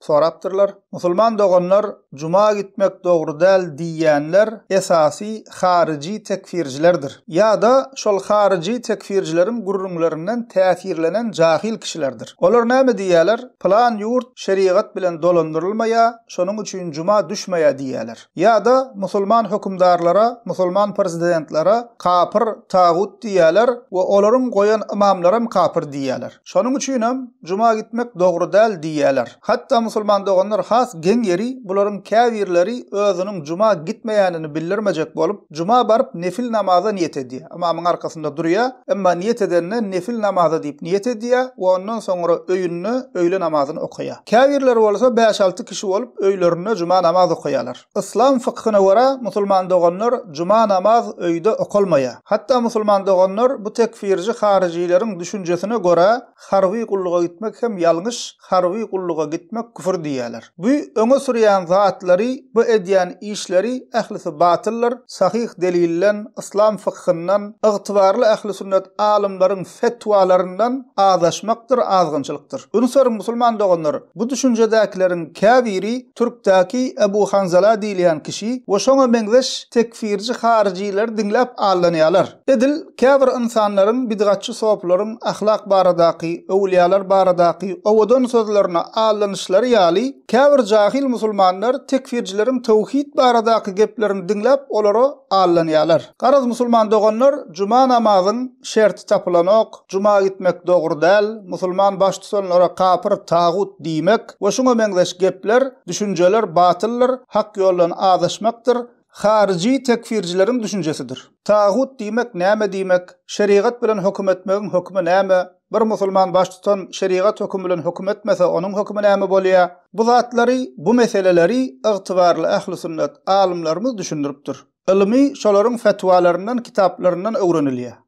sorapdyrlar. Musulman doganlar juma gitmek dogry däl diýýänler esasy haryjy tekfirjilerdir. Ýa-da şol haryjy tekfirjileriň gürrüňlerinden täsirlenen jahyl kişilerdir. Olar näme diýýäler, pylan ýurt şerigat bilen dolandyrylmaýa, şonuň üçin juma düşmeýä diýýäler. Ýa-da musulman hökümdarlara, musulman prezidentlere kapyr, tagut diýýärler we olaryň goýan ymamlaram kapyr diýýärler. Şonuň üçinem juma gitmek dogry däl diýýärler. Hatda musulman doganlar has geň ýeri bularyň käbirleri özüniň juma gitmeýänini bildirmejek bolup, Juma baryp nefil namaza niýet edýär. Ymamyň arkasynda durýar. Emma niýet edende nefil namaza diýip niýet edýär we ondan soňra öýünde öýle namazyny okaýar. Käbirleri bolsa bäş-alty kişi bolup öýlerinde juma namaz okaýarlar. Yslam fykhyna görä musulman doganlar juma namaz öýde okalmaýar. Hatda musulman doganlar bu tekfirji haryjileriň düşünjesine görä harby gulluga gitmek hem ýalňyş, harby gulluga gitmek küfür diýýäler. Bu öňe sürýän zatlary, bu edýän işleri ählisi batyldyr, sahyh delilden, yslam fykhyndan, ygtybarly ähli sünnet alymlaryň fetwalaryndan azaşmakdyr, azgynçylykdyr. Ünswer musulman doganlar, bu düşünjedäkileriň käbiri türkdäki Ebu Hanzala diýilýän kişi we şoňa meňzeş tekfirji haryjylar diňläp aldanýalar. Edil käbir ynsanlaryň bidgatçy sopylaryň ahlak baradaky, öwülýalar baradaky owadan sözlerine aldanyşlary ýaly, käbir jahyl musulmanlar tekfirjileriň töwhit baradaky geplerini diňläp olara aldanýarlar. Garaz musulman doganlar juma namazyň şerti tapylanok, juma gitmek dogry däl, musulman baştutanlara kapyr, tagut diýmek we şuňa meňzeş gepler, düşünjeler batyldyr, hak ýoldan azaşmakdyr, Haryjy tekfirjileriň düşünjesidir. Tagut diýmek näme diýmek, şerigat bilen höküm etmegiň hökümi näme, bir musulman baştutan şerigat hökümi bilen höküm etmese onuň hökümi näme bolýa, bu zatlary, bu meseleleri ygtybarly ähli sünnet alymlarymyz düşündiripdir. Ylmy şolaryň fetwalaryndan kitaplaryndan öwrenilýä.